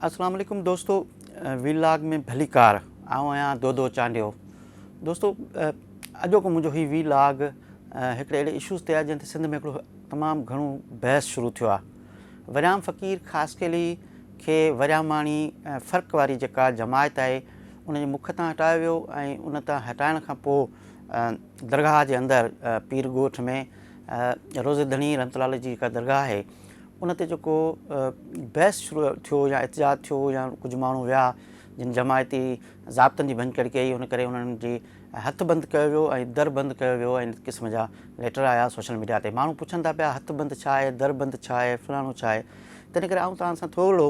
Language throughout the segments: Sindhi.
اسلام عليڪم دوستو وي لاگ ۾ ڀليڪار آئون آهيان دودو چانڊيو دوستو اڄوڪو منهنجو هي وي لاگ هڪڙي اهڙي اشوز تي آهي جنهن تي سنڌ ۾ هڪڙو تمام گهڻو بحث شروع ٿيو آهي وريام فقير خاصخيلي کي ورياماڻي فرق واري جيڪا جماعت آهي ان جي مک تان هٽايو ويو ۽ ان تان هٽائڻ کان پوء درگاهه جي اندر پير ڳوٺ ۾ روزي ڌڻي رحمت الله جي جيڪا درگاهه آهي ان تي جيڪو بحث شروع ٿيو يا احتجاج ٿيو يا ڪجهه ماڻهو ويا جن جماعتي ضابطن جي ڀڃڪڙ ڪئي ان ڪري انهن جي هٿ بند ڪيو ويو ۽ در بند ڪيو ويو ۽ قسم جا ليٽر آيا سوشل ميڊيا تي ماڻهو پڇن ٿا پيا هٿ بند ڇا آهي در بند ڇا آهي فلاڻو ڇا آهي تنهن ڪري آئون توهان سان ٿورڙو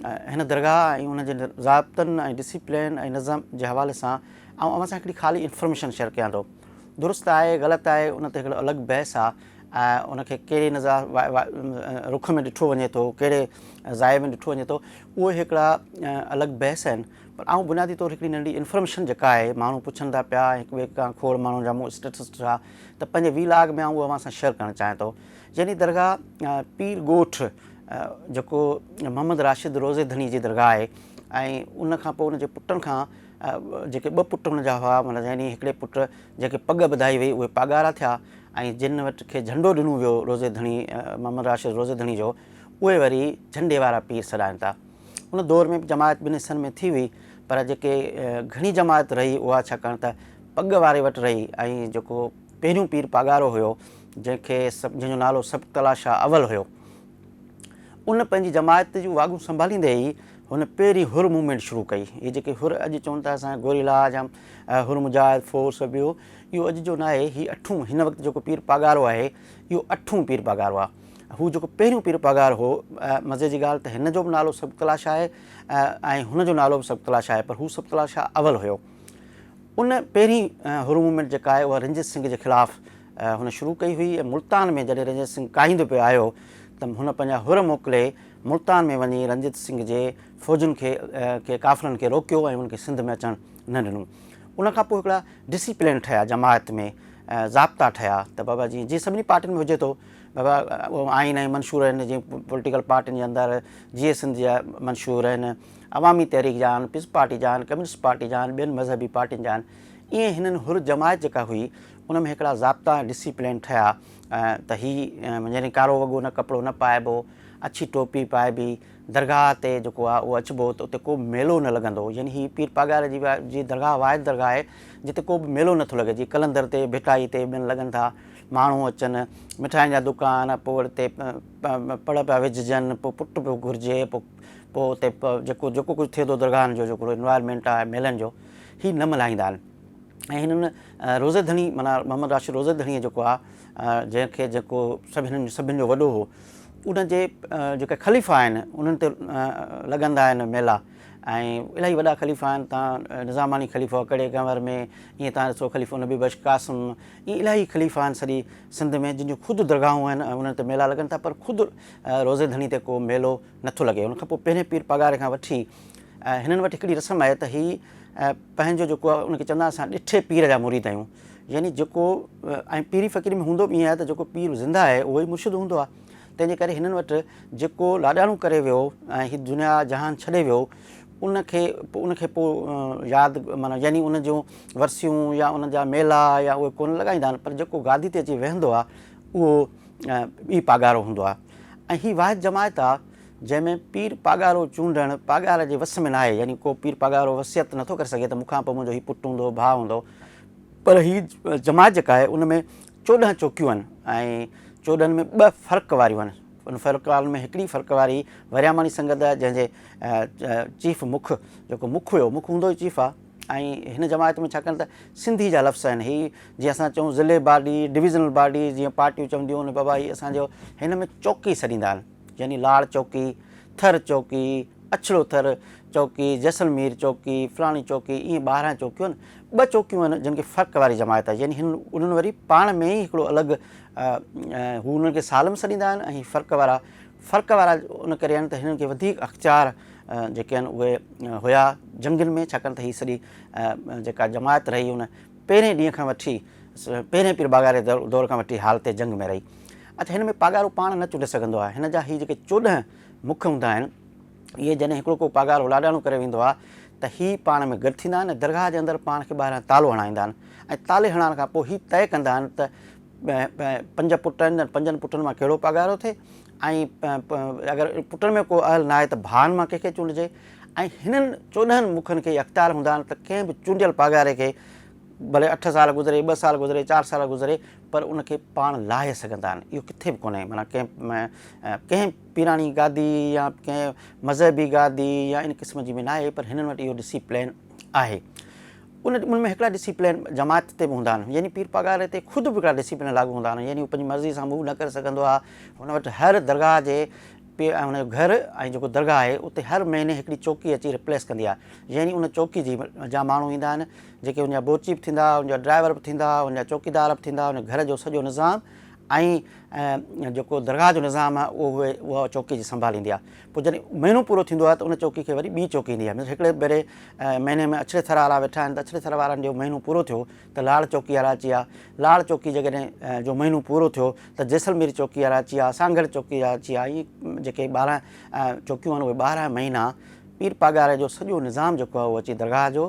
هن درگاهه ۽ ان جي ضابطن ۽ ڊسپلين ۽ نظم جي حوالي سان آئون اوهان سان هڪڙي خالي انفارميشن شيئر ڪيان ٿو درست آهي غلط آهي ان تي هڪڙو الڳ بحث آهي ان کي ڪهڙي نظر رخ ۾ ڏٺو وڃي ٿو، ڪهڙي ضائع ۾ ڏٺو وڃي ٿو، اهي هڪڙا الڳ بحث آهن. پر آئون بنيادي طور هڪڙي ننڍڙي انفرميشن جيڪا آهي ماڻهو پڇن ٿا پيا ۽ هڪ ٻئي کان کوڙ ماڻهن جا مون اسٽيٽس ڏٺا ته پنهنجي وي لاگ ۾ آئون اهو اوهان سان شيئر ڪرڻ چاهيان ٿو. جني درگاهه پير ڳوٺ جيڪو محمد راشد روضي ڌڻي جي درگاهه آهي ۽ ان کان پوء ان جي پٽن کان جيڪي ٻه پٽ هن جا هئا معنيٰ يعني هڪڙي پٽ جنهن کي پڳ ٻڌائي وئي اهي پاڳارا ٿيا. ۽ جن وٽ کي جهنڊو ڏنو ويو روضي ڌڻي محمد راشد روضي ڌڻي جو اهي وري جهنڊي وارا پير سڏائن ٿا. ان دور ۾ به جماعت ٻن حصن ۾ ٿي هئي پر جيڪي گهڻي جماعت رهي اها ڇاڪاڻ ته پڳ واري وٽ رهي ۽ جيڪو پهريون پير پاڳارو هيو جنهن کي جنهن جو نالو سبقتالله شاهه اول هيو ان پنهنجي جماعت جون واڳون سنڀاليندي ئي هن پهرين حر موومينٽ شروع ڪئي. هي جيڪي حر اڄ چون ٿا اسان گوريلا جا حر مجاهد فور سو ٻيو اهو اڄ جو ناهي هي اٺون هن وقت جيڪو پير پاڳارو آهي اهو اٺون پير پاڳارو آهي هو جيڪو پهريون پير پاڳار هو مزي جي ڳالهه ته هن جو به نالو سبڪلا شاهه آهي ۽ هن جو نالو به سبڪلا شاهه آهي پر هو سبڪلا شاهه اول هيو ان پهرين هر موومينٽ جيڪا آهي اها رنجيت سنگهه جي خلاف هن شروع ڪئي هئي ۽ ملتان ۾ جڏهن رنجيت سنگهه ڪاهيندو پيو آيو ته هن پنهنجا هر موڪلي ملتان ۾ وڃي رنجيت سنگهه جي فوجن کي ڪافرن کي روڪيو ۽ انهن کي سنڌ ۾ اچڻ نه ڏنو. ان کان پوء هڪڙا ڊسيپلين ٺهيا جماعت ۾ ضابطا ٺهيا ته بابا جي جيئن سڀني پارٽين ۾ هجي ٿو بابا آئين ۽ منشور آهن جيئن پوليٽيڪل پارٽين جي اندر جيئي سنڌ جا منشور آهن عوامي تحريڪ جا آهن پيپلز پارٽي جا آهن ڪميونسٽ پارٽي جا آهن ٻين مذهبي پارٽين جا آهن ائين هنن حر جماعت جيڪا هئي ان ۾ هڪڙا ضابطا ۽ ڊسيپلين ٺهيا ته هي يعني ڪارو وڳو نه ڪپڙو نه پائبو اڇي ٽوپي پائبي درگاهه تي جيڪو آهي اهو اچبو ته اتي ڪوبه ميلو نه لڳندو يعني هي پير پاڳاري جي جي درگاهه واحد درگاهه آهي جتي ڪوبه ميلو نٿو لڳي جي قلندر تي ڀٽائي تي ٻين لڳن ٿا ماڻهو اچن مٺاين جا دڪان پوء اتي پڙ پيا وجهجن پوء پٽ پيو گهرجي پوء پوء اتي جيڪو جيڪو ڪجهه ٿئي ٿو درگاهن جو جيڪو انوائرمينٽ آهي ميلن جو هي نه ملهائيندا آهن ۽ هنن روزي ڌڻي معنيٰ محمد راشد روزي ڌڻيء جيڪو آهي جنهن کي جيڪو سڀ هنن سڀن جو وڏو هو ان جي جيڪي خليفا آهن انهن تي لڳندا آهن ميلا ۽ الاهي وڏا خليفا آهن تان نظاماڻي خليفو ڪڙي گنور ۾ ائين تان ڏسو خليفو نبي بخش قاسم ائين الاهي خليفا آهن سڄي سنڌ ۾ جن جون خود درگاهون آهن انهن تي ميلا لڳن ٿا پر خود روزي ڌڻي تي ڪو ميلو نه ٿو لڳي ان کان پوء پهرين پير پاڳاري کان وٺي هنن وٽ هڪڙي رسم آهي ته هي پنهنجو جيڪو آهي ان کي چوندا آهن اسان ڏٺي پير جا مريد آهيون يعني جيڪو ۽ پيري فقيري ۾ هوندو به ائين آهي ته جيڪو پير زنده آهي اهو ئي مرشد هوندو آهي تنهن جي ڪري هنن وٽ جيڪو لاڏاڻو ڪري ويو ۽ هي دنيا جهان ڇڏي ويو ان کي ان کي پوء ياد معنيٰ يعني ان جون ورسيون يا ان جا ميلا يا اهي ڪونه لڳائيندا آهن پر جيڪو گادي تي اچي ويهندو آهي اهو ٻي پاڳارو هوندو آهي ۽ هي واحد جماعت آهي جنهن ۾ پير پاڳارو چونڊڻ پاڳار جي وس ۾ ناهي يعني ڪو پير پاڳارو وصيت نٿو ڪري سگهي ته مون کان پوء منهنجو هي پٽ هوندو ڀاء هوندو پر هي جماعت جيڪا آهي ان ۾ چوڏهن چوڪيون آهن ۽ چوڏهن ۾ ٻه فرق واريون آهن. ان فرق وارن ۾ هڪڙي فرق واري ورياماڻي سنگت آهي جنهن جي چيف مک جيڪو مک هيو مک هوندو ئي چيف آهي ۽ هن جماعت ۾ ڇاڪاڻ ته سنڌي جا لفظ آهن هي جيئن اسان چئون ضلعي باڊي ڊويزنل باڊي جيئن پارٽيون چونديون آهن بابا هي اسان جو هن ۾ چوڪي سڏيندا آهن. يعني لاڙ چوڪي، ٿر چوڪي، اڇڙو ٿر چوڪي، جيسلمير چوڪي، فلاڻي چوڪي ائين ٻارهن چوڪيون آهن. ٻه چوڪيون آهن جن کي فرق واري جماعت آهي يعني انهن وري پاڻ ۾ ئي هڪڙو الڳ هو انهن کي سالم سڏيندا آهن ۽ هي فرق وارا فرق وارا ان ڪري آهن ته هنن کي وڌيڪ اختيار جيڪي آهن اهي هيا جنگين ۾ ڇاڪاڻ ته هي سڄي جيڪا جماعت رهي ان پهرين ڏينهن کان وٺي پهرين پير باگاڙي دور کان وٺي حالت جنگ ۾ رهي. اچ هن ۾ پاڳارو پاڻ نه چنڊي سگهندو آهي. هن جا هي جيڪي چوڏهن مک هوندا آهن، اهي جڏهن هڪڙو ڪو پاڳارو لاڏاڻو ڪري ويندو آهي ته هي پاڻ ۾ گڏ ٿيندا آهن ۽ درگاهه جي اندر پاڻ کي ٻاهران تالو هڻائيندا آهن ۽ تالي هڻائڻ کان پوء هي طئي ڪندا آهن ته پنج پٽ آهن ته پنجن پٽن مان ڪهڙو پاڳارو ٿئي ۽ اگر پٽن ۾ ڪو اهل ناهي ته ڀائن مان ڪنهن کي چونڊجي ۽ هنن چوڏهن مکن کي اختيار هوندا آهن ته ڪنهن به چونڊيل پاڳاري کي ڀلي اٺ سال گذري، ٻه سال گذري، چار سال گذري، پر ان کي پاڻ لاهي سگهندا آهن اهو ڪٿي به ڪونهي معنيٰ ڪنهن ڪنهن پيراڻي گادي يا ڪنهن مذهبي گادي يا ان قسم جي ۾ ناهي پر هنن وٽ اهو ڊسي پلين آهي ان ان ۾ هڪڙا ڊسي پلين جماعت تي به هوندا آهن يعني پير پاڳاري تي خود به هڪڙا ڊسي پلين لاڳو هوندا آهن يعني هو پنهنجي مرضي سان موو نه ڪري سگهندو آهي هن وٽ هر درگاهه جي پير ۽ هن جو گهر ۽ جيڪو درگاهه آهي اتي هر مهيني هڪڙي چوڪي اچي ريپليس ڪندي آهي يعني ان چوڪي جي جا ماڻهو ايندا آهن جيڪي ان جا بورچي به ٿيندا، ان جا ڊرائيور به ٿيندا، ان جا چوڪيدار به ٿيندا، ان گهر جو سڄو نظام ۽ جيڪو درگاهه جو نظام آهي اهو اها چوڪي جي سنڀال ايندي آهي. پوء جڏهن مهينو پورو ٿيندو آهي ته ان چوڪي کي وري ٻي چوڪي ايندي آهي. مثلاً هڪڙي ڀيري مهيني ۾ اڇڙي ٿر وارا ويٺا آهن ته اڇڙي ٿر وارن جو مهينو پورو ٿيو ته لاڙ چوڪي وارا اچي ويا. لاڙ چوڪي جيڪڏهن جو مهينو پورو ٿيو ته جيسلمير چوڪي وارا اچي ويا، سانگهڙ چوڪي وارا اچي ويا. ائين جيڪي ٻارهن چوڪيون آهن اهي ٻارهن مهينا پير پاڳاري جو سڄو نظام جيڪو آهي اهو اچي درگاهه جو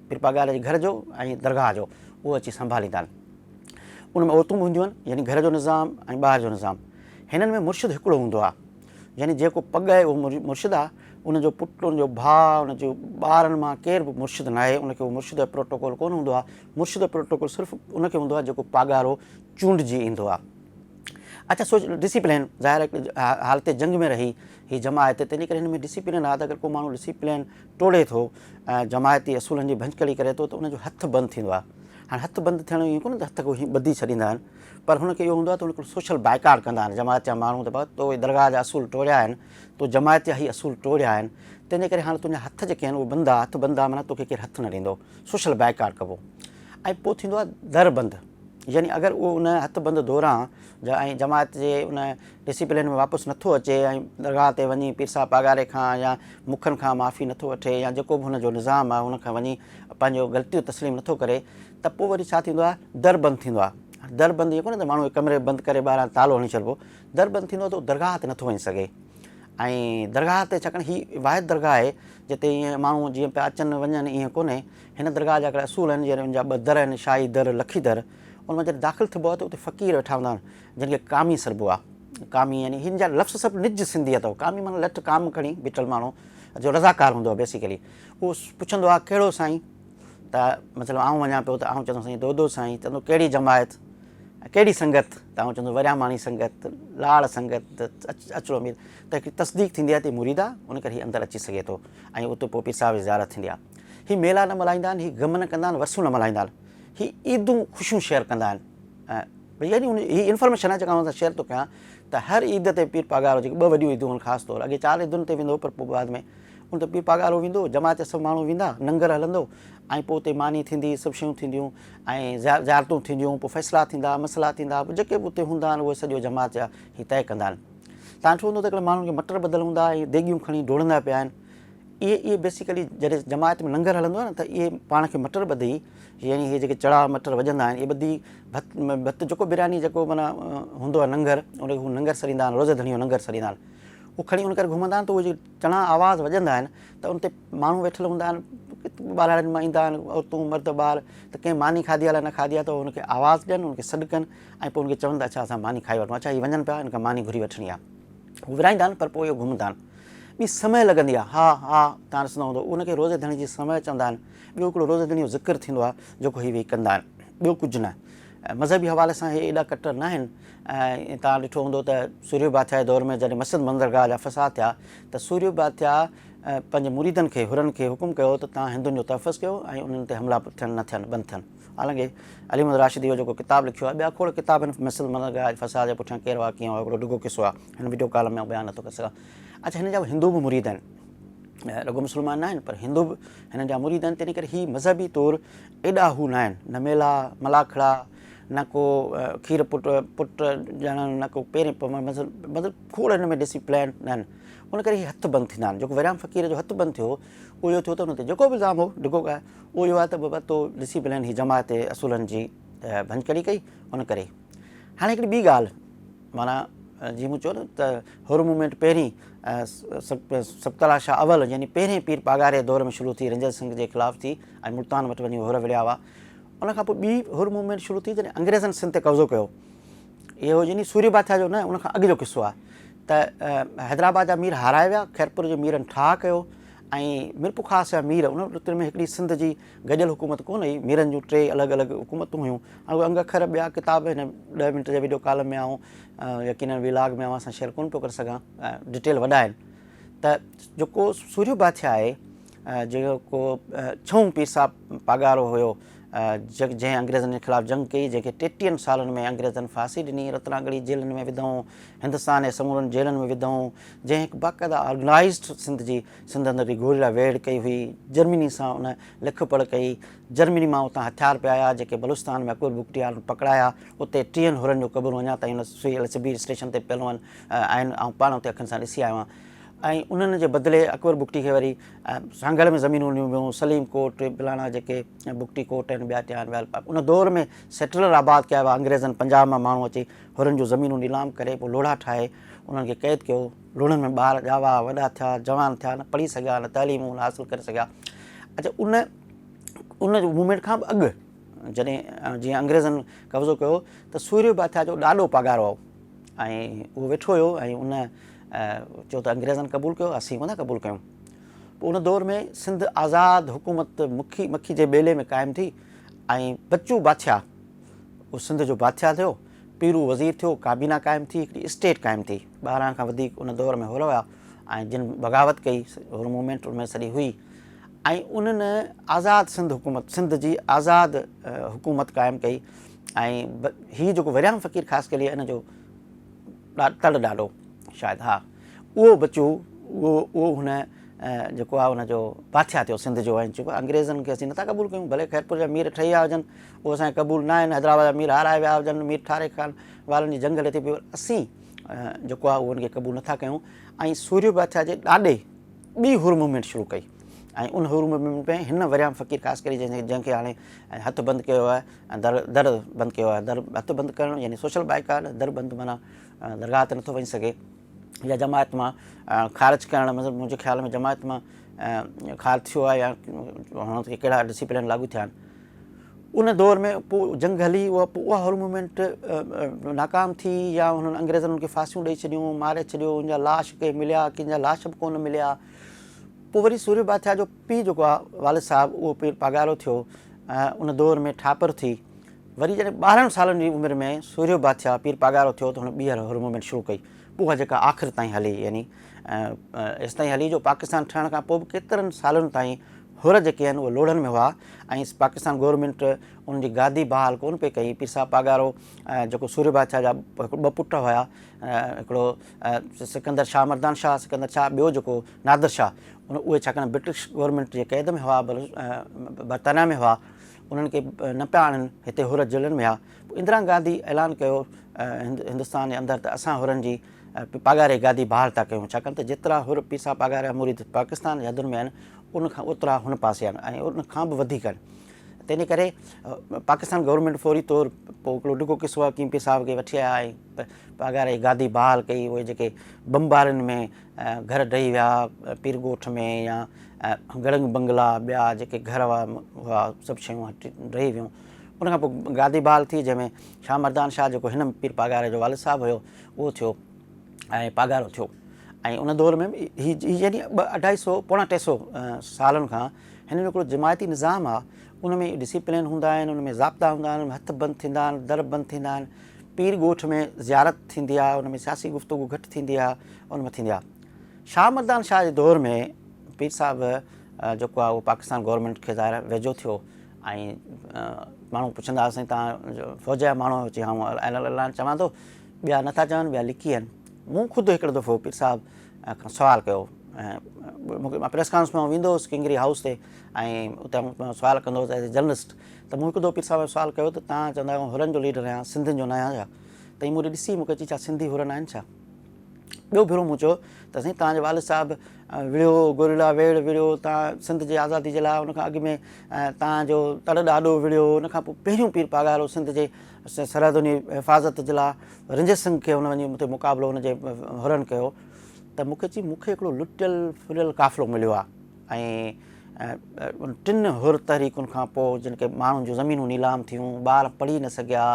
پير پاڳاري جي گهر جو ۽ درگاهه جو اهو اچي سنڀاليندا آهن. ان ۾ عورتون به هونديون آهن، يعني گهر جو نظام ۽ ٻاهر جو نظام. هنن ۾ مرشد هڪڙو هوندو آهي، يعني جيڪو پڳ آهي اهو مرشد آهي، ان جو پٽ، ان جو ڀاء، ان جي ٻارن مان ڪير به مرشد ناهي، ان کي اهو مرشد جو پروٽوڪول ڪونه هوندو آهي، مرشد جو پروٽوڪول صرف ان کي هوندو آهي جيڪو پاڳارو چونڊجي ايندو آهي. اچا سوچ ڊسيپلين ظاهر آهي حالت جنگ ۾ رهي هي جماعت تنهنجي ڪري هن ۾ ڊسيپلين آهي ته اگر ڪو ماڻهو ڊسيپلين ٽوڙي ٿو ۽ جماعتي اصولن جي ڀڃڪڙي ڪري ٿو ته ان جو هٿ بند ٿيندو آهي. هاڻي هٿ بند ٿيڻ جو ائين ڪونهي ته هٿ ڪو هيئن ٻڌي ڇڏيندا آهن پر هن کي اهو هوندو آهي ته هن هڪڙو سوشل بائيڪاٽ ڪندا آهن جماعت جا ماڻهو ته بابا تو اهي درگاهه جا اصول ٽوڙيا آهن، تو جماعت جا هي اصول ٽوڙيا آهن تنهن جي ڪري هاڻي تنهنجا هٿ جيڪي آهن اهي بند آ، هٿ بند آ معنيٰ توکي ڪير هٿ نه ڏيندو، سوشل بائيڪاٽ ڪبو ۽ پوء ٿيندو آهي در بند يعني اگر اهو ان هٿ بند دوران ۽ جماعت جي ان ڊسيپلين ۾ واپس نٿو اچي ۽ درگاهه تي وڃي پير صاحب پاڳاري کان يا مکن کان معافي نٿو وٺي يا جيڪو به هن جو نظام آهي ان کان وڃي پنهنجو غلطيون تسليم نٿو ڪري ته پوء وري ڇا ٿيندو آهي در بند ٿيندو آهي در بند اهو ڪونهي ته ماڻهو کي ڪمري بند ڪري ٻاهران تالو هڻي ڇڏبو در بند ٿيندو ته درگاهه تي نٿو وڃي سگهي ۽ درگاهه تي ڇاڪاڻ هي واحد درگاهه آهي جتي ائين ماڻهو جيئن پيا اچن وڃن ائين ڪونهي هن درگاهه جا هڪڙا اصول آهن جيئن ان جا ٻه در آهن شاهي در لکي در ان مان جڏهن داخل ٿبو آهي ته اتي فقير ويٺا هوندا آهن جنهن کي ڪامي سڏبو آهي. ڪامي يعني هن جا لفظ سڀ نج سنڌي اٿو. ڪامي معنيٰ لٺ، ڪام کڻي بيٺل ماڻهو جو رضاڪار هوندو آهي بيسيڪلي. اهو پڇندو آهي ڪهڙو سائين؟ ته مثلاً آئون وڃان پيو ته آئون چوندو سائين دودو سائين، چوندو ڪهڙي جماعت ۽ ڪهڙي سنگت؟ ته آئون چوندو ورياماڻي سنگت، لاڙ سنگت ته اچرو مير ته هڪڙي تصديق ٿيندي آهي ته هي مريد آهي ان ڪري هي اندر اچي سگهي ٿو ۽ اتي پوء پير صاحب جي زيارت ٿيندي آهي. هي ميلا نه ملهائيندا آهن، هي غم نه ڪندا آهن، ورسيون نه ملهائيندا آهن. هي عيدون خوشيون شيئر ڪندا آهن ۽. يعني ان هي انفارميشن آهي جيڪا اوهان سان شيئر ٿو ڪيان ته هر عيد تي پير پاڳارو جيڪي ٻه وڏيون عيدون آهن خاص طور اڳي چار عيدن تي ويندو هو پر پوء بعد ۾ ان تي پير پاڳارو ويندو جماعت جا سڀ ماڻهو ويندا ننگر هلندو ۽ پوء اتي ماني ٿيندي سڀ شيون ٿينديون ۽ زيارتون ٿينديون پوء فيصلا ٿيندا مسئلا ٿيندا پوء جيڪي به اتي هوندا آهن اهي سڄو جماعت جا هي طئي ڪندا آهن تان ڇو هوندو ته هڪڙي ماڻهن کي مٽر ٻڌل هوندا ۽ ديڳيون کڻي ڊوڙندا پيا آهن اهي اهي بيسيڪلي جڏهن جماعت ۾ ننگر هلندو آهي نه ته اهي پاڻ کي مٽر ٻڌي يعني هي جيڪي چڙا مٽر وڄندا آهن، اهي ٻڌي ڀت ڀت جيڪو برياني جيڪو معنيٰ هوندو آهي ننگر، ان کي هو ننگر سڏيندا آهن، روزه ڌڻيو ننگر سڏيندا آهن. اهو کڻي ان ڪري گهمندا آهن ته اهي جيڪي چڻا آواز وڄندا آهن ته ان تي ماڻهو ويٺل هوندا آهن، ٻاراڙين مان ايندا آهن عورتون مرد ٻار ته ڪنهن ماني کاڌي آهي الاء نه کاڌي آهي ته ان کي آواز ڏين ان کي سڏ ڪن ۽ پوء ان کي چون ته اڇا اسان ماني کائي وٺون، اڇا هي وڃن پيا ان کان ماني گهري وٺڻي آهي. هو ورهائيندا آهن پر پوء اهي گهمندا آهن. ٻي سمهه لڳندي آهي، هاء هاء تان ڏسندو هوندو ان کي روزه ڌڻي جي سمهه چوندا آهن. ٻيو هڪڙو روزه دڙيون ذڪر ٿيندو آهي جيڪو هي ويهي ڪندا آهن ٻيو ڪجهه نه مذهبي حوالي سان هي ايڏا ڪٽر نه آهن ۽ توهان ڏٺو هوندو ته سوريو باٿيا جي دور ۾ جڏهن مسجد مندرگاهه جا فساد ٿيا ته سوريو باٿيا پنهنجي مريدن کي حرن کي حڪم ڪيو ته توهان هندن جو تحفظ ڪيو ۽ انهن تي حملا ٿين نه ٿين بند ٿين حالانڪه علي محمد راشدي جو جيڪو ڪتاب لکيو آهي ٻيا کوڙ ڪتاب هن مسجد مندرگاهه جي فساد جي پٺيان ڪير هئا ڪيئن هئا هڪڙو ڊگهو قصو آهي هن وڊيو ڪالم ۾ آئون بيان نه ٿو ڪري سگهان اچا هن جا هندو به مريد آهن رڳو مسلمان نه آهن پر هندو به هنن جا مريد آهن تنهن ڪري هي مذهبي طور ايڏا هو نه آهن نه ميلا ملاکڙا نه ڪو کير پٽ پٽ ڄاڻ نه ڪو پيرين پوڻ مذهب مطلب کوڙ هن ۾ ڏسي پلان نه آهن ان ڪري هي هٿ بند ٿيندا آهن جيڪو وريام فقير جو هٿ بند ٿيو اهو اهو ٿيو ته ان تي جيڪو به الزام هو ڊگو ڪا اهو اهو آهي ته بابا تو ڏسي پلان هي جماعت اصولن جي ڀڃڪڙي ڪئي ان ڪري هاڻي هڪڙي ٻي ڳالهه معنيٰ جيئن مون چيو نه ته حر مومينٽ پهرين سڪتلا شاهه اول يعني پهرين پير پاڳاري دور ۾ شروع ٿي رنجن سنگهه جي خلاف ٿي ۽ ملتان وٽ وڃي حر وڙهيا هئا ان کان پوء ٻي حر مومينٽ شروع ٿي جڏهن انگريزن سنڌ تي قبضو ڪيو اهو يعني سوري باٿيا جو نه ان کان اڳ جو قصو آهي ته حيدرآباد جا مير هارائي ويا خيرپور جي ميرن ٺاهه ڪيو ۽ ميرپور خاص جا مير ان رت ۾ هڪڙي سنڌ جي گڏيل حڪومت ڪونه هئي، ميرن جون ٽي الڳ الڳ حڪومتون هيون ۽ اهي انگ اکر ٻيا ڪتاب هن ڏهه منٽ جي وڊيو ڪالم ۾ آئون يقينن وي لاگ ۾ اوهان سان شيئر ڪونه پيو ڪري سگهان ڊيٽيل وڏا آهن ته جيڪو سورهيو باٿيا آهي جيڪو ڇهون پير صاحب پاڳارو هيو جنهن انگريزن جي خلاف جنگ ڪئي جنهن کي ٽيٽيهن سالن ۾ انگريزن ڦاسي ڏني رتناڳڙي جيلن ۾ وڌائون هندستان جي سمورن جيلن ۾ وڌائون جنهن هڪ باقاعده آرگنائيزڊ سنڌ جي سنڌ اندر به گوريلا ويڙهه ڪئي هئي، جرمني سان ان لک پڙهه ڪئي، جرمني مان اتان هٿيار پي آيا جيڪي بلوچستان ۾ اڪبر بگٽيارن پڪڙايا، اتي ٽيهن حرن جون قبرون اڃا تائين ان سوئي الصبير اسٽيشن تي پيل هئن آهن، آئون پاڻ اتي اکين سان ڏسي آيو آهيان ۽ انهن جي بدلي اڪبر بگٽي کي وري سانگهڙ ۾ زمينون ڏنيون ويون، سليم ڪوٽ، بلاڻا جيڪي بگٽي ڪوٽ آهن ٻيا ٽيهان ويل پاڪ ان دور ۾ سيٽلر آباد ڪيا ويا، انگريزن پنجاب مان ماڻهو اچي حرن جون زمينون نيلام ڪري پوء لوڙها ٺاهي انهن کي قيد ڪيو، لوڻين ۾ ٻار ڄاوا، وڏا ٿيا، جوان ٿيا، نه پڙهي سگهيا، نه تعليم ان حاصل ڪري سگهيا. اڇا ان ان جو موومينٽ کان به اڳ جڏهن جيئن انگريزن قبضو ڪيو ته سوريو باٿيا جو ڏاڏو پاڳارو هو ۽ اهو ويٺو هيو ۽ ان چيو ته انگريزن قبول ڪيو اسين ڪونه قبول ڪيون پوء ان دور ۾ سنڌ آزاد حڪومت مکي مکي جي ٻيلي ۾ قائم ٿي ۽ بچو باٿيا اهو سنڌ جو باٿيا ٿيو پيرو وزير ٿيو، ڪابينا قائم ٿي، هڪڙي اسٽيٽ قائم ٿي. ٻارهن کان وڌيڪ ان دور ۾ هئرا هيا ۽ جن بغاوت ڪئي، هئرو موومينٽ ان ۾ سڏي هئي ۽ انهن آزاد سنڌ حڪومت، سنڌ جي آزاد حڪومت قائم ڪئي ۽ هي جيڪو وريام فقير خاص ڪلي ان جو تڙ ڏاڏو شايد ها اهو ٻچو اهو اهو هن جيڪو آهي ان جو پاٿيا ٿيو سنڌ جو ۽ چيو انگريزن کي اسين نٿا قبول ڪيون ڀلي خيرپور جا مير ٺهي آيا هجن اهو اسان کي قبول ناهي نه حيدرآباد جا مير هارايا ويا هجن مير ٺاري خان وارن جي جنگ هلي ٿي پئي اسين جيڪو آهي اهو ان کي قبول نٿا ڪيون ۽ سوريو باچا جي ڏاڏي ٻي حر موومينٽ شروع ڪئي ۽ ان حر موومينٽ ۾ هن وريام فقير خاص ڪري جنهن جنهن کي هاڻي هٿ بند ڪيو آهي ۽ در در بند ڪيو آهي در هٿ بند ڪرڻ يعني سوشل بائيڪاٽ در بند معنيٰ درگاهه تي نٿو وڃي سگهي يا جماعت مان خارج ڪرڻ مطلب منهنجي خيال ۾ جماعت مان خارج ٿيو آهي يا هاڻ تائين ڪهڙا ڊسيپلين لاڳو ٿيا آهن ان دور ۾ پوء جنگ هلي اها پوء اها هول موومينٽ ناڪام ٿي يا هنن انگريزن ان کي ڦاسيون ڏيئي ڇڏيون ماري ڇڏيو ان جا لاش ڪي مليا ڪن جا لاش به ڪونه مليا پوء وري سوري بادشاهه جو پيء جيڪو آهي والد صاحب اهو پير پاڳارو ٿيو ان دور ۾ ٺاپر ٿي وري جڏهن ٻارهن سالن جي عمر ۾ سورهيو بادشاهه پير پاڳارو ٿيو ته هن ٻيهر هر موومينٽ شروع ڪئي اها جيڪا آخر تائين هلي يعني ايستائين هلي جو پاڪستان ٺهڻ کان پوء به ڪيترن سالن تائين هر جيڪي آهن اهي لوڙهن ۾ هئا ۽ پاڪستان گورنمينٽ ان جي گادي بحال ڪونه پئي ڪئي پير صاحب پاڳارو جيڪو سورهيو بادشاهه جا ٻه پٽ هيا هڪڙو سڪندر شاهه مردان شاهه سڪندر شاهه ٻيو جيڪو نادر شاهه ان اهي ڇاڪاڻ برٽش گورنمينٽ جي قيد ۾ هئا برطانيا ۾ هئا انهن کي نه پيا آڻن، هتي حر جيلن ۾ ها. پوء اندرا گانڌي اعلان ڪيو هندستان جي اندر ته اسان حرن جي پاڳاري گادي بحال ٿا ڪيون، ڇاڪاڻ ته جيترا حر پيسا پاڳاريا مريد پاڪستان جي حدن ۾ آهن، ان کان اوترا هن پاسي آهن ۽ ان کان به وڌيڪ آهن. تنهنجي ڪري پاڪستان گورنمينٽ فوري طور پوء هڪڙو ڊگهو قصو حڪيم پير صاحب کي وٺي آيا ۽ پاڳاري گادي بحال ڪئي. اهي جيڪي بمبارين ۾ گهر ڊهي ويا پير ڳوٺ ۾ يا گڙنگ بنگلا ٻيا جيڪي گهر هئا سڀ شيون ڊهي ويون ان کان پوء گادي بحال ٿي جنهن ۾ شاهه مردان شاهه جيڪو هن پير پاڳاري جو والد صاحب هيو اهو ٿيو ۽ پاڳارو ٿيو ۽ ان دور ۾ هي يعني ٻه اڍائي سو پوڻا ٽي سو سالن کان هن جو هڪڙو جماعتي نظام آهي ان ۾ ڊسيپلين هوندا آهن ان ۾ ضابطا هوندا آهن هٿ بند ٿيندا آهن در بند ٿيندا آهن پير ڳوٺ ۾ زيارت ٿيندي آ، ان ۾ سياسي گفتگو گهٽ ٿيندي آ، ان ۾ ٿيندي آ. شاهه مردان شاهه جي دور ۾ پير صاحب جيڪو آ اهو پاڪستان گورنمينٽ کي ظاهر آ ويجهو ٿيو ۽ ماڻهو پڇندا ها سائين توهان فوج جا ماڻهو آهيو چي ها مون الا الا چوان ٿو ٻيا نه ٿا چون ٻيا لڪي آهن مون خود هڪڙو دفعو پير صاحب کان سوال ڪيو مان پريس ڪانفرنس ۾ ويندو هوس ڪنگري هائوس تي ۽ اتي سوال ڪندو هوس جرنلسٽ ته مون هڪ دو پير صاحب کان سوال ڪيو ته توهان چوندا آهيو آئون هرن جو ليڊر آهيان سنڌين جو نه آهيان ڇا؟ ته هي مون ڏي ڏسي مون کي چي ڇا سنڌي هرن آهن ڇا؟ ٻيو ڀيرو مون چيو ته سائين توهان جي والد صاحب وڙهيو گوريلا ويڙهه وڙهيو توهان سنڌ جي آزادي جي لاء ان کان اڳ ۾ توهان جو تڙ ڏاڏو وڙهيو ان کان پوء پهريون پير پاڳارو سنڌ جي سرحدن جي حفاظت جي لاء رنجيت سنگهه کي هن وڃي مون تي مقابلو هن جي هرن ڪيو ته مون کي چي مون کي هڪڙو لٽيل ڦريل قافلو مليو آهي ۽ ٽن حر تحريڪن کان پوء جن ڪي ماڻهن جون زمينون نيلام ٿيون، ٻار پڙهي نه سگهيا،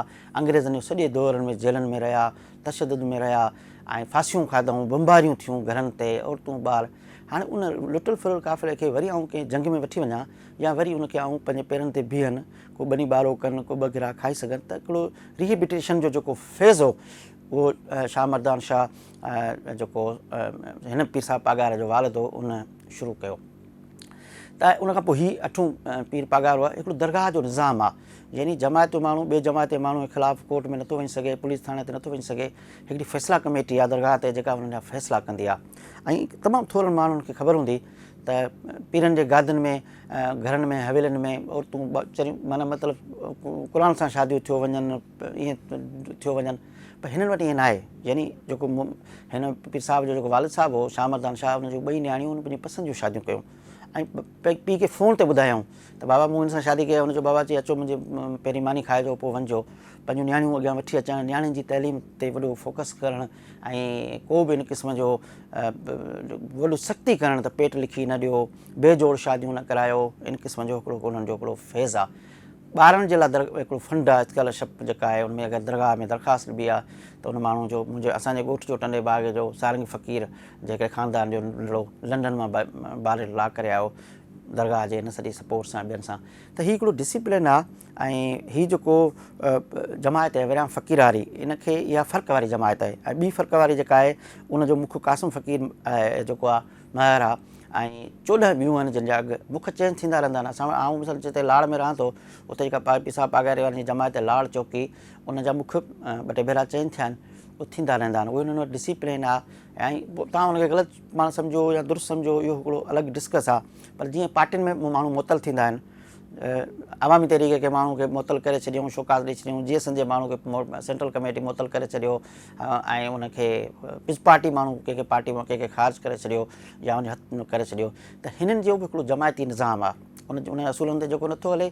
انگريزن جون سڄي دورن ۾ جيلن ۾ رهيا، تشدد ۾ رهيا ۽ ڦاسيون کاڌئون، بمباريون ٿيون گهرن تي، عورتون ٻار. هاڻي ان لٽل ڦرل قافلي کي وري آئون ڪنهن جنگ ۾ وٺي وڃان يا وري ان کي آئون پنهنجي پيرن تي بيهن، ڪو ٻني ٻارو ڪن، ڪو ٻه گرها کائي سگهن ته هڪڙو ريهيبٽيشن جو جيڪو فيز هو اهو شاهه مردان شاهه ۽ جيڪو هن پير صاحب پاڳارا جو والد هو ان شروع ڪيو ته ان کان پوء هي اٺون پير پاڳارو آهي هڪڙو درگاهه جو نظام آهي يعني جماعت جو ماڻهو ٻي جماعت جي ماڻهو خلاف ڪورٽ ۾ نٿو وڃي سگهي پوليس ٿاڻي تي نٿو وڃي سگهي هڪڙي فيصلا ڪميٽي آهي درگاهه تي جيڪا انهن جا فيصلا ڪندي آهي ۽ تمام ٿورن ماڻهن کي خبر هوندي ته پيرن جي گادن ۾ گهرن ۾ حويلن ۾ عورتون چريون معنيٰ مطلب قرآن سان شاديون ٿيو وڃن ائين ٿيو وڃن پر هنن وٽ ائين ناهي. يعني جيڪو هن پير صاحب جو جيڪو والد صاحب هو شاهه مردان شاهه ان جون ٻئي نياڻيون هن پنهنجي پسند جون شاديون ڪيون ۽ پيء کي فون تي ٻڌايائون ته بابا مون هن سان شادي ڪئي آهي هن چيو بابا چي اچو منهنجي پهرين ماني کائجو پوء وڃجو پنهنجون نياڻيون اڳيان وٺي اچڻ نياڻين جي تعليم تي وڏو فوڪس ڪرڻ ۽ ڪو به ان قسم جو وڏو سختي ڪرڻ ته پيٽ لکي نه ڏيو بي جوڙ شاديون نه ڪرايو ان قسم جو هڪڙو انهن جو هڪڙو فيض آهي ٻارن جي لاء در هڪڙو فنڊ آهي اسڪالر شپ جيڪا آهي ان ۾ اگر درگاهه ۾ درخواست ڏبي آ ته ان ماڻهو جو منهنجي اسان جي ڳوٺ جو ٽنڊي باغ جو سارنگي فقير جيڪي خاندان جو ننڍڙو لنڊن مان باري لا ڪري آيو درگاهه جي ان سڄي سپورٽ سان ٻين سان ته هي هڪڙو ڊسيپلين آ ۽ هي جيڪو جماعت آهي وريان فقيراري ان کي اها فرق واري جماعت آهي ۽ ٻي فرق واري جيڪا آهي ان جو مک قاسم فقير جيڪو آ مهر آ ۽ چوڏهن ٻيون آهن جن جا اگهه مک چينج ٿيندا رهندا آهن اسان آئون مثلا جتي لاڙ ۾ رهان ٿو اتي جيڪا پائي پيسا پاڳاري وارن جي جماعت آهي لاڙ چوڪي ان جا مک ٻه ٽي ڀيرا چينج ٿيا آهن اهي ٿيندا رهندا آهن اهو انهن وٽ ڊسيپلين آ ۽ پوء تان ان کي غلط پاڻ سمجهو يا درست سمجهو اهو هڪڙو الڳ ڊسڪس آ پر جيئن پارٽين ۾ ماڻهو معطل ٿيندا آهن عوامي تحريڪ کي ماڻهو کي معطل ڪري ڇڏيون شوڪاز ڏئي ڇڏيون جي ايس اين جي ماڻهو کي سينٽرل ڪميٽي معطل ڪري ڇڏيو ۽ ان کي پز پارٽي ماڻهو ڪنهن کي پارٽي مان ڪنهن کي خارج ڪري ڇڏيو يا ان جي ڪري ڇڏيو ته هنن جو به هڪڙو جماعتي نظام آ ان جي ان اصولن تي جيڪو نٿو هلي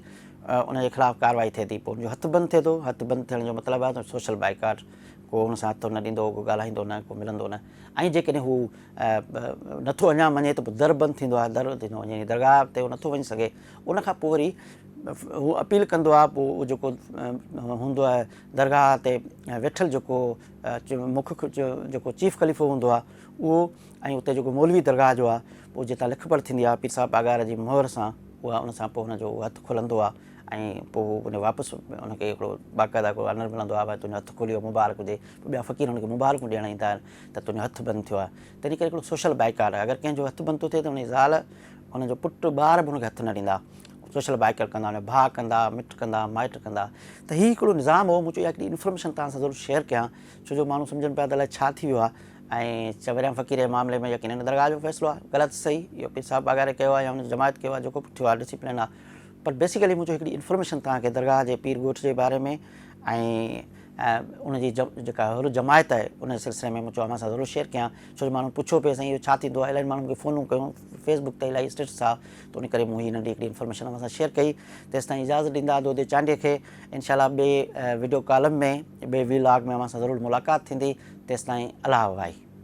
ان جي خلاف ڪارروائي ٿئي ٿي پوء ان جو هٿ بند ٿئي ٿو هٿ بند ٿيڻ جو مطلب آ ته سوشل بائيڪاٽ ڪو ان سان هٿ نه ڏيندو ڪو ڳالهائيندو نه ڪو ملندو نه ۽ جيڪڏهن هو نٿو اڃان مڃي ته پوء در بند ٿيندو آ در ڏنو وڃي يعني درگاهه تي هو نٿو وڃي سگهي ان کان پوء وري هو اپيل ڪندو آ پوء جيڪو هوندو آ درگاهه تي ويٺل جيڪو مک جيڪو چيف خليفو هوندو آهي اهو ۽ اتي جيڪو مولوي درگاهه جو آهي پوء جتان لک پڙهه ٿيندي آهي پير صاحب پاڳار جي مهر سان اها ان سان پوء هن جو اهو هٿ کلندو آهي ۽ پوء هو ان واپس ان کي هڪڙو باقاعده هڪڙو آنر ملندو آهي ڀاء تنهنجو هٿ کليو مبارڪ هجي ٻيا فقير هن کي مبارڪون ڏيڻ ايندا آهن ته تنهنجو هٿ بند ٿيو آهي تنهن ڪري هڪڙو سوشل بائيڪاٽ آهي، اگر ڪنهن جو هٿ بنتو ٿئي ته ان جي زال، ان جو پٽ، ٻار به ان کي هٿ نه ڏيندا، سوشل بائيڪاٽ ڪندا، ان جا ڀاء ڪندا، مٽ ڪندا، مائٽ ڪندا، ته هي هڪڙو نظام هو، مون چيو اها هڪڙي انفارميشن توهان سان ضرور شيئر ڪيان، ڇو جو ماڻهو سمجهن پيا ته الائي ڇا ٿي ويو آهي ۽ چؤريان فقير جي معاملي ۾ يقينن درگاهه جو فيصلو آهي، غلط صحيح اهو پير صاحب پاڳاري ڪيو آهي يا ان جي جماعت ڪيو آهي، جيڪو به ٿيو آهي ڊسيپلين آهي، پر بيسيڪلي منهنجو هڪڙي انفارميشن توهان کي درگاهه جي پير ڳوٺ جي باري ۾ ۽ ان جي جيڪا هر جماعت آهي ان جي سلسلي ۾ مون چيو اوهان سان ضرور شيئر ڪيان ڇو جو ماڻهن پڇيو پي سائين اهو ڇا ٿيندو آهي الاهي ماڻهن کي فونون ڪيون فيس بڪ تي الاهي اسٽيٽس آ ته ان ڪري مون هي ننڍي هڪڙي انفارميشن اوهان سان شيئر ڪئي تيستائين اجازت ڏيندا دودي چانڊيي کي انشاء الله ٻي ويڊيو ڪالم ۾ ٻي وي لاگ ۾ اوهان سان ضرور ملاقات ٿيندي تيستائين الاهه وائي.